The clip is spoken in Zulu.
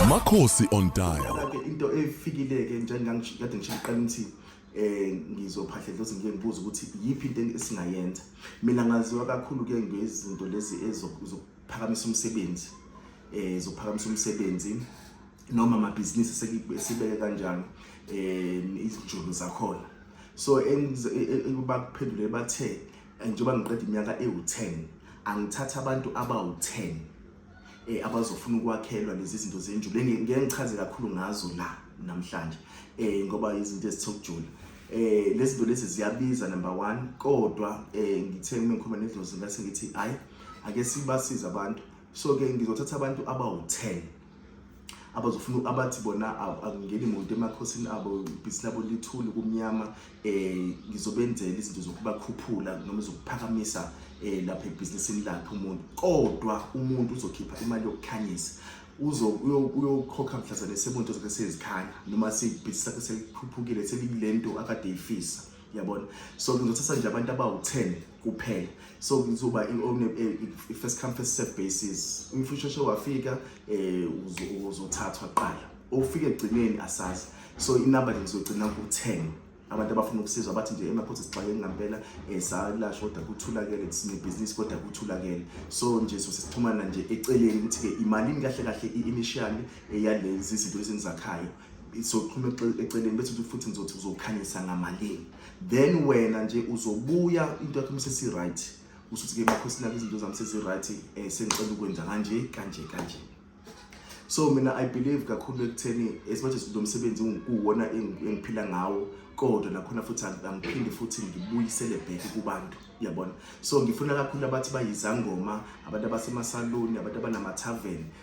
Makhosi on dial. Into efikileke njengangikade ngishiqala ukuthi eh ngizophahla dlozi ngike ngibuza ukuthi yipi into esingayenza. Mina ngaziwa kakhulu ke ngezinto lezi ezokuphakamisa umsebenzi. Eh zokuphakamisa umsebenzi noma amabhizinisi sekibeke kanjalo eh izinjulu zakhona. So engikuba kuphendule bathe njengoba ngiqeda iminyaka ewu-10 angithatha abantu abawu-10 eh abazofuna ukwakhelwa lezi zinto zenjulu ngeke ngichaze kakhulu ngazo la namhlanje eh ngoba izinto ezithokujula eh lezi zinto lezi ziyabiza number 1 kodwa eh ngithe uma ngikhuluma nedlozi ngase ngithi hayi ake sibasize abantu so ke ngizothatha abantu abawu-10 abazofuna abathi bona angingeni muntu emakhosini abo ibhisi labo lithuli kumnyama um ngizobenzela izinto zokubakhuphula noma zokuphakamisa um lapha ebhizinisini lakhe umuntu kodwa umuntu uzokhipha imali yokukhanyisa uyokhokha mhlazane sebunto zakhe sezikhanya noma sebhizi lakhe selikhuphukile selikule nto akade ifisa yabona so ngizothatha nje abantu abawu-10 kuphela so kuzoba i-first come first serve basis umfo usheshe wafika um uzothathwa kuqala ofike ekugcineni asazi so inamba nje ngizogcina ku-10 abantu abafuna ukusizwa bathi nje emakhosi sixakeke ngampela um salasho kodwa kuthulakele sinebhizinisi kodwa kuthulakele so nje so sesixhumana nje eceleni ukuthi-ke imalini kahle kahle i-initially eyalezi zinto lezi enizakhayo soxhuma eceleni bese uthi futhi ngizothi uzokhanyisa ngamalini then wena nje uzobuya into yakho msesi right usuthi ke makhosi nami izinto zami sezi right eh sengicela ukwenza kanje kanje kanje so mina i believe kakhulu ekutheni as much as lo msebenzi unguwona engiphila ngawo kodwa nakhona futhi angiphindi futhi ngibuyisele back kubantu yabona so ngifuna kakhulu abathi bayizangoma abantu abasemasaloni abantu abanama-tavern